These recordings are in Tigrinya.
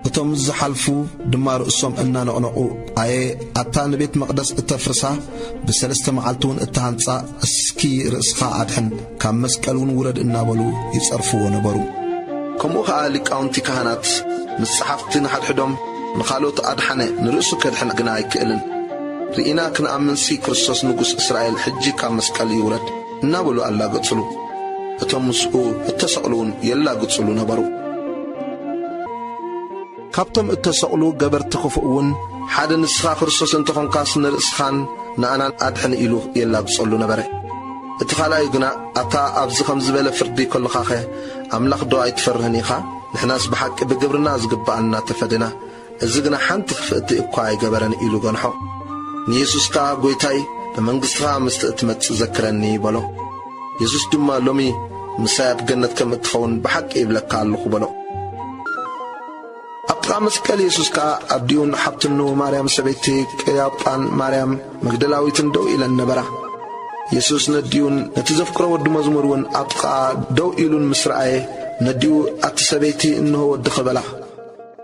እቶም ዝሓልፉ ድማ ርእሶም እናነቕነቑ ኣየ ኣታ ንቤት መቕደስ እተፍርሳ ብሰለስተ መዓልቲ እውን እተሃንጻ እስኪ ርእስኻ ኣድሕን ካብ መስቀል እውን ውረድ እናበሉ ይጸርፍዎ ነበሩ ከምኡ ኸዓ ሊቃውንቲ ካህናት ምስ ጸሓፍቲ ንሓድሕዶም ንኻልኦት ኣድሓነ ንርእሱ ከድሕን ግና ኣይክእልን ርኢና ክንኣምንሲ ክርስቶስ ንጉስ እስራኤል ሕጂ ካብ መስቀል ይውረድ እናበሉ ኣላገጹሉ። እቶም ምስኡ እተሰቕሉውን የላግጹሉ ነበሩ። ካብቶም እተሰቕሉ ገበርቲ ኽፉእውን ሓደ ንስኻ ክርስቶስ እንተ ዀንካስ ንርእስኻን ንኣናን ኣድሕን ኢሉ የላግጸሉ ነበረ። እቲ ኻልኣዩ ግና ኣታ ኣብዚ ኸም ዝበለ ፍርዲ ከሎኻኸ ኣምላኽዶ ኣይትፈርህን ኢኻ? ንሕናስ ብሓቂ ብግብርና ዚግብኣና ተፈዲና፣ እዚ ግና ሓንቲ ክፍእቲ እኳ ኣይገበረን ኢሉ ገንሖ። ንየሱስ ከኣ ጐይታይ ብመንግሥትኻ ምስቲ እትመጽእ ዘክረኒ በሎ። የሱስ ድማ ሎሚ ምሳይ ኣብ ገነት ከም እትኸውን ብሓቂ ይብለካ ኣሎኹ በሎ። ኣብ ጥቓ መስቀል የሱስ ከኣ ኣዲኡን ሓብትኑ ማርያም ሰበይቲ ቅያጳን ማርያም መግደላዊትን ደው ኢለን ነበራ። የሱስ ነዲኡን ነቲ ዘፍቅሮ ወዲ መዝሙር እውን ኣብ ጥቓኣ ደው ኢሉን ምስ ረኣየ ነዲኡ ኣቲ ሰበይቲ እንሆ ወድኺ በላ።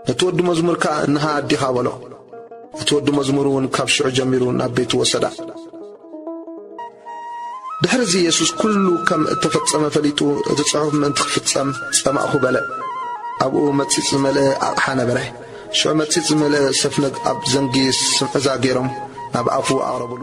ነቲ ወዲ መዝሙር ከኣ እንሃ ኣዲኻ በሎ። እቲ ወዲ መዝሙር እውን ካብ ሽዑ ጀሚሩ ናብ ቤቱ ወሰዳ። ድሕርዚ የሱስ ኩሉ ከም እተፈጸመ ፈሊጡ እቲ ጽሑፍ ምእንቲ ክፍጸም ጸማእኩ በለ። ኣብኡ መጺጽ ዝመልአ ኣቕሓ ነበረ። ሽዑ መጺጽ ዝመልአ ሰፍነግ ኣብ ዘንጊ ስምዕዛ ገይሮም ናብ ኣፉ ኣቕረቡሉ።